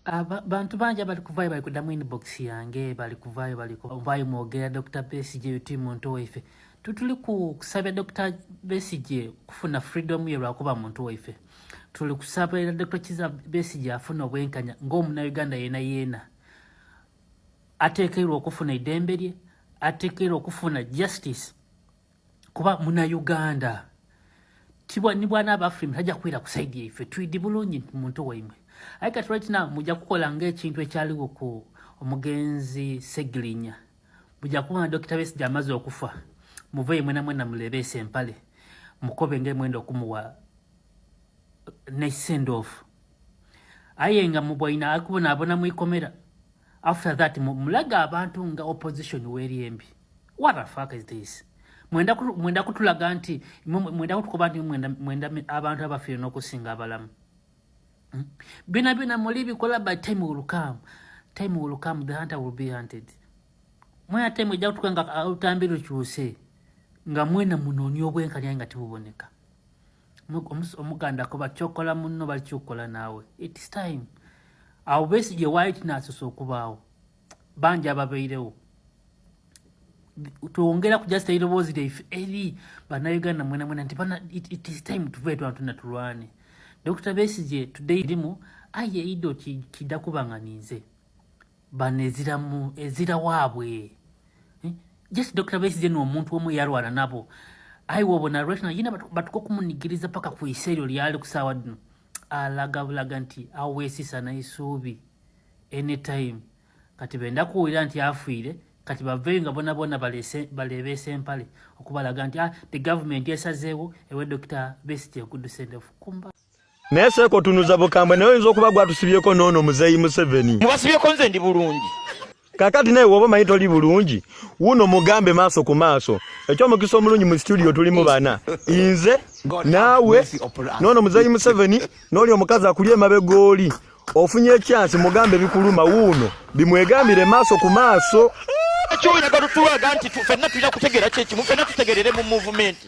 Aba, bantu bangi abali kuvaayo bali kudamu inbox yange bali kuvaayo bali kuvaayo mwogera dr besigye uti muntu waife tutuli kusabya dr besigye kufuna freedom ye lwakuba muntu waife tuli kusabira dr kiza besigye afuna obwenkanya ngaomuna uganda yena yena atekeirwa okufuna idembe lye atekeirwa okufuna justice kuba muna Uganda tibwa ni bwana aba Afrika tajja kwira ku side yaife tuidi bulungi muntu waimwe aye kati right now mujja kukola ng'ekintu ekyaliwo ku omugenzi Segirinya mujja kuba na Dokita Besigye amaze okufa muveeyo mwena mwena mulebeese empale mukobe ng'emwenda okumuwa ne send off aye nga mubwaina akubonaabona mu ikomera after that mulaga abantu nga opposition weri embi what the fuck is this mwenda mwenda kutulaga nti mwenda kutukoba nti mwenda mwenda abantu abafire nokusinga abalamu hmm? bina bina muli bikola by time will come time will come the hunter will be hunted mwena time ejja kutuka nga uh, utambi lukyuse nga mwena munonya obwenkanya nga tibuboneka omuganda kuba kyokola munno balikyokola naawe its time awo besi gye waali tinasosa okubaawo bangi ababeirewo twongera kujasita eiroboozi lyaife eri banauganda mwenamwena nti bana its time tuve twanatuna tulwane dokita besigye tudde irimu aye eido kidda kuba nga ninze bano eziramu ezira waabwe eh? just dr besize noomuntu omu eyalwana nabo ayi wobona lwetna yina batuka okumunigiriza paka ku isa eryo lyali ku saawa dino alaga bulaga nti aweesisa naisuubi anytime kati benda kuwulira nti afiire kati baveyo nga bona bona baleebeesa empale okubalaga nti ah, the government esazeewo ewe dr besize okudusendefkumba naye seeko otunuza bukambwe naye oyinza okuba gwatusibyeko noono muzeeyi museveni mubasibyeko nze ndi bulungi kakati naye woba omanyi toli bulungi wuno mugambe maaso ku maaso ekyomukisa omulungi mu situdio tulimu bana inze naawe noono muzeeyi museveni nooli omukazi akuli emabe gooli ofunye ekyansi mugambe bikuluma wuuno bimwegambire maaso ku maaso kyoyagala otulaga nti fenna tulina kutegeera kyekimu fenna tutegerere mu muvumenti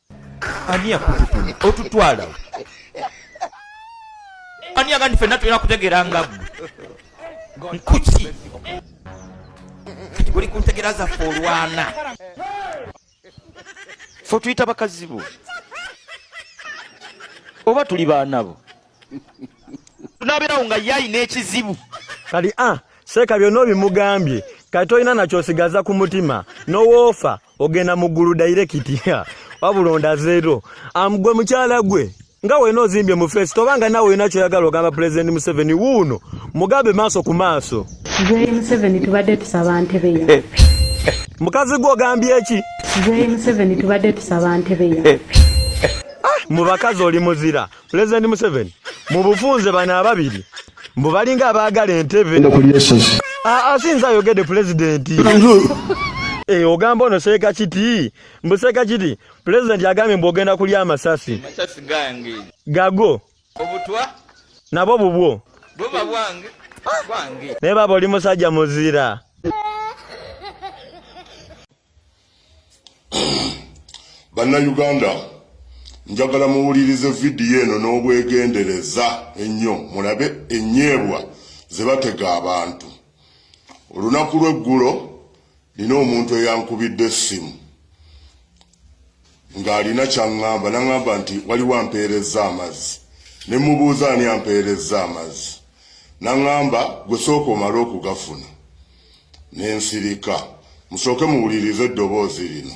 ani yakututuma otutwalawo ani agandi fenna tulina kutegeera nga gwe nkuki kati guli ku ntegera zaffe olwana fe tuyita bakazi bo oba tuli baana bo tunabeerawo nga ye alina ekizibu kati a ah, seeka byonna obimugambye kati tolina nakyosigaza ku mutima nowoofa ogenda mu ggulu dairekiti wabula ondazeero amugwe mukyala gwe nga wena ozimbye mu feesi toba nga nawe olina kyoyagala ogamba pulezidenti museveni wuuno mugambe maaso ku maaso joyi museveni tubadde tusaba ntebeyo mukazi gwe ogambye eki joyi museveni tubadde tusaba ntebeyo ah, mu bakazi oli muzira pulezidenti museveni mu bufunze bano ababiri mbu balinga abaagala entebe asinza ayogedde pulezidenti eh, ogamba ono seeka kiti mbu seeka kiti pulezidenti agambye mbu ogenda kulya amasasi gago nabo bubwo naye baba oli musajja muzira bannayuganda njagala muwulirize vidiyo eno n'obwegendereza ennyo mulabe ennyebwa ze batega abantu olunaku lw'eggulo nina omuntu eyankubidde essimu ng'alina ky'aŋŋamba n'aŋŋamba nti waliwo ampeerezza amazzi ne mmubuuza ani ampeerezza amazzi n'aŋŋamba gwe sooka omale okugafuna ne nsirika musooke muwulirize eddoboozi lino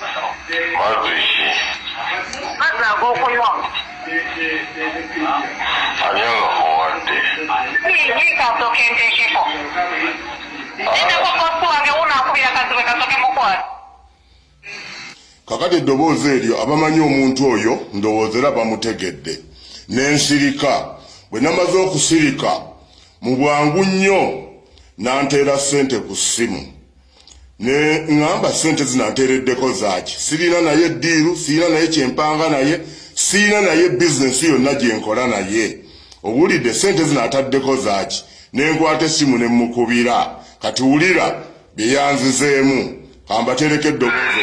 mazzi ki mazzi agokunywa ani agakuwadde kasoke ntekeko nendako kosi wange wunakubira kaziwe kasoke mukwasi kakati eddoboozi eryo abamanyi omuntu oyo ndowooza era bamutegedde nensirika bwe namaze okusirika mu bwangu nnyo nanteera ssente ku ssimu ne ngamba sente zinatereddeko zaaki sirina naye diiru sirina naye kyempanga naye sirina naye bizinesi yonna gyenkola naye owulidde sente zinataddeko zaaki nenkwata essimu ne mukubira kati wulira byeyanzizeemu kambatereka eddoboozi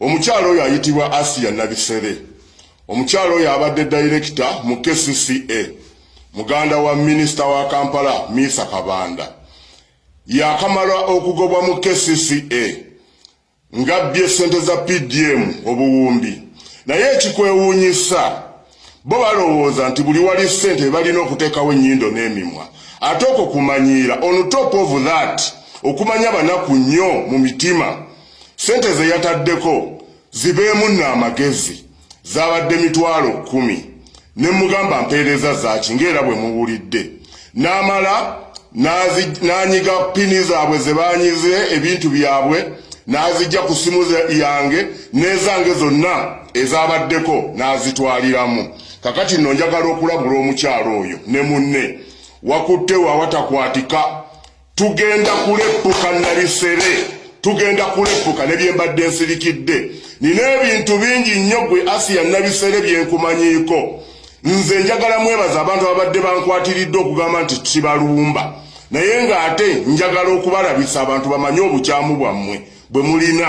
Omukyala oyo ayitibwa Asiya Nabisere. Omukyala oyo abadde dayirekita mu KCCA, muganda wa minisita wa Kampala Miisa Kabanda. Yakamala okugobwa mu KCCA ng'abbye ssente za PDM obuwumbi. Naye ekikwewuunyisa bo balowooza nti buli wali sente balina okuteekawo ennyindo n'emimwa ate okwo kumanyiira on top of that okumanya banaku nnyo mu mitima sente ze yataddeko zibeemu nno amagezi zabadde mitwalo kkumi ne mugamba mpeereza zaaki ng'era bwe muwulidde n'amala n'anyiga pini zaabwe ze baanyize ebintu byabwe n'azijja ku ssimu yange n'ezange zonna ezabaddeko n'azitwaliramu kakati nno njagala okulabula omukyalo oyo ne munne wakutte wawatakwatika tugenda kuleppuka nabifere tugenda kuleppuka ne byembadde nsirikidde nina ebintu bingi nnyo gwe asiya nabifere byenkumanyiiko nze njagala mwebaza abantu ababadde bankwatiridde okugamba nti kibalumba naye ng'ate njagala okubalabisa abantu bamanye obukyamu bwammwe bwe mulina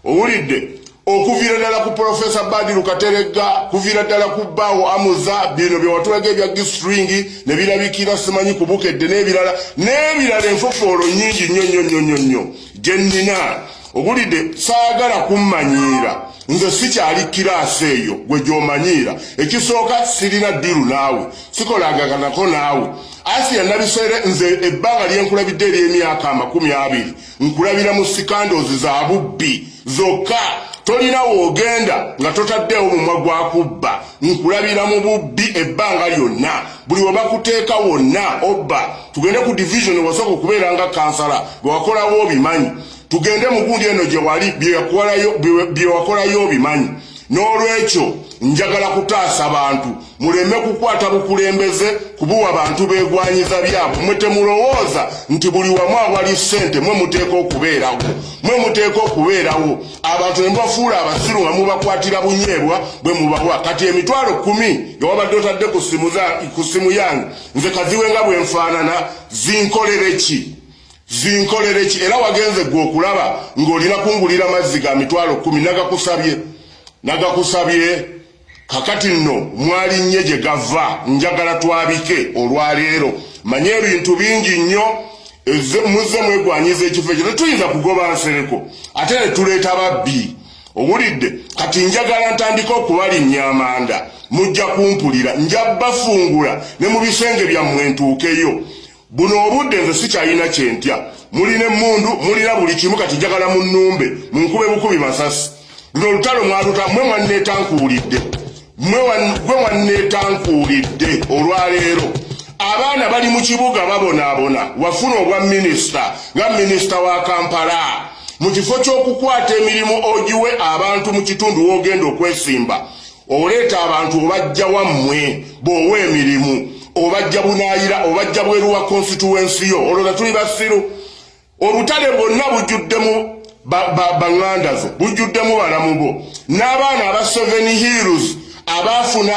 owulidde okuviira ddala ku profesa badiru kateregga kuviira ddala ku bbaawo amuza bino byewatulaga ebya gistring ne birabikira simanyi ku bukedde n'ebirala n'ebirala enfofoolo nyingi nnyo nnyo nnyo nnyo nnyo gye nnina owulidde saagala kummanyiira nze sikyali kiraasi eyo gwe gy'omanyiira ekisooka sirina ddiru naawe sikolagaganako naawe asi yanabiseere nze ebbanga lyenkulabidde ery'emyaka amakumi abiri nkulabira mu sikandozi za bubbi zokka tolina woogenda nga totaddeewo mumwa gwa kubba nkulabira mu bubbi ebbanga lyonna buli we bakuteeka wonna obba tugende ku division wasooka okubeera nga kansala bwe wakolawo obimanyi tugende mu gundi eno gye wali bye wakolayo obimanyi n'olwekyo njagala kutaasa bantu muleme kukwata bukulembeze kubuwa bantu begwanyiza byabwe mwe temulowooza nti buli wamu awali ssente mwe muteeka okubeerawo mwe muteeka okubeerawo abantu nemubafuula abasiru nga mubakwatira bunyeebwa bwe mubawa kati emitwalo kumi ewabadde otadde ku simu yange nze kaziwe nga bwenfaanana zinkolere ki zinkolere ki era wagenze gwe okulaba ng'olina kungulira mazzi ga mitwalo kumi nagakusabye nagakusabye kakati nno mwalinnye gye gava njagala twabike olwaleero manye ebintu bingi nnyo muzze mwegwanyiza ekifo ekyo tetuyinza kugoba nsereko ate ne tuleeta babbi owulidde kati njagala ntandika okubalinnya amanda mujja kumpulira nja bafungula ne mu bisenge byammwe ntuukeyo buno obudde nze sikyalina kyentya mulina emmundu mulina buli kimu kati njagala mu nnumbe munkube bukubi masasi luno olutalo mwaluta mwe mwanneetankuulidde mwe gwe mwanneetankuulidde olwaleero abaana bali mu kibuga babonaabona wafuna obwa minisita nga minisita wa kampala mu kifo ky'okukwata emirimu ogiwe abantu mu kitundu w'ogenda okwesimba oleeta abantu obajja wammwe boowa emirimu obajja bunayira obajja bweru wa konsituwensi yo olwo nga tuli basiru obutale bwonna bujjuddemu baŋŋanda zo bujjuddemu balamu bo n'abaana aba seven hills abaafuna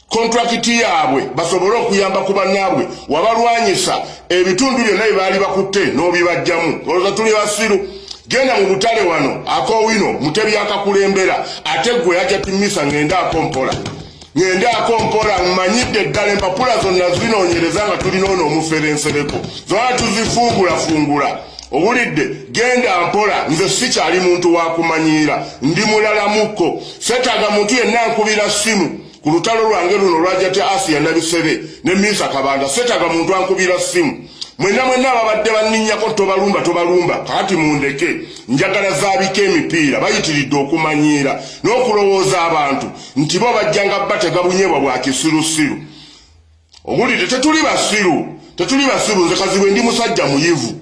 kontrakiti yaabwe basobole okuyamba ku bannaabwe wabalwanyisa ebitundu byonna bye baali bakutte n'obibajjamu olwoza tuli basiru genda mu butale wano akowino mutebi akakulembera ate gwe yaja timisa ngende akompola ngende akompola mmanyidde ddala empapula zonna zinoonyereza nga tulina ono omuferensereko zona tuzifuugulafungula owulidde genda mpola nze sikyali muntu wakumanyiira ndi mulalamukko setaga muntu yenna nkubira simu ku lutalo lwange luno lwajati asiya nabisebe ne minsa kabanda setaga muntu ankubira simu mwena mwena ababadde banninyako tobalumba tobalumba kakati mundeke njagala zaabika emipiira bayitiridde okumanyiira n'okulowooza abantu nti bo bajjanga batega bunyebwa bwa kisirusiru owulidde tetuli basiru tetuli basiru nze kazibwe ndi musajja muyivu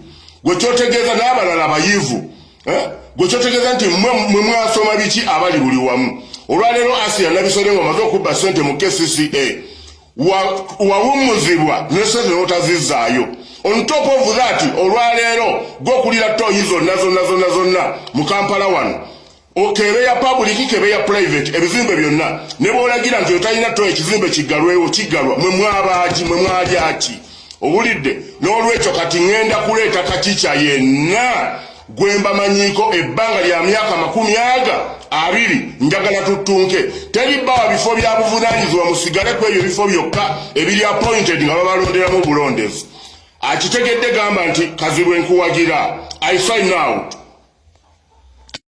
gwe kyotegeeza n'abalala bayivu eh? gwe kyotegeeza nti mwe mwasoma biki abali buli wamu olwaleero asiya nabisole nga omaze okubba sente mu kcca wawummuzibwa ne sente notazizaayo on top of that olwaleero gwokulira toyi zonna zonna zonna zonna mu kampala wano okebe ya pabuliki kebe ya purayiveti ebizimbe byonna ne bw'olagira nti otalina to ekizimbe kiggalwewo kiggalwa mwe mwabaaki mwe mwalyaki owulidde n'olwekyo kati ŋŋenda kuleeta kakica yenna gwe mbamanyiiko ebbanga lya myaka makumi aga abiri njagala tuttunke teri bbawa bifo bya buvunaanyizibwa musigale ku ebyo bifo byokka ebiri appointed nga babalonderamu obulondezi akitegedde gamba nti kazibwe nkuwagira i sign out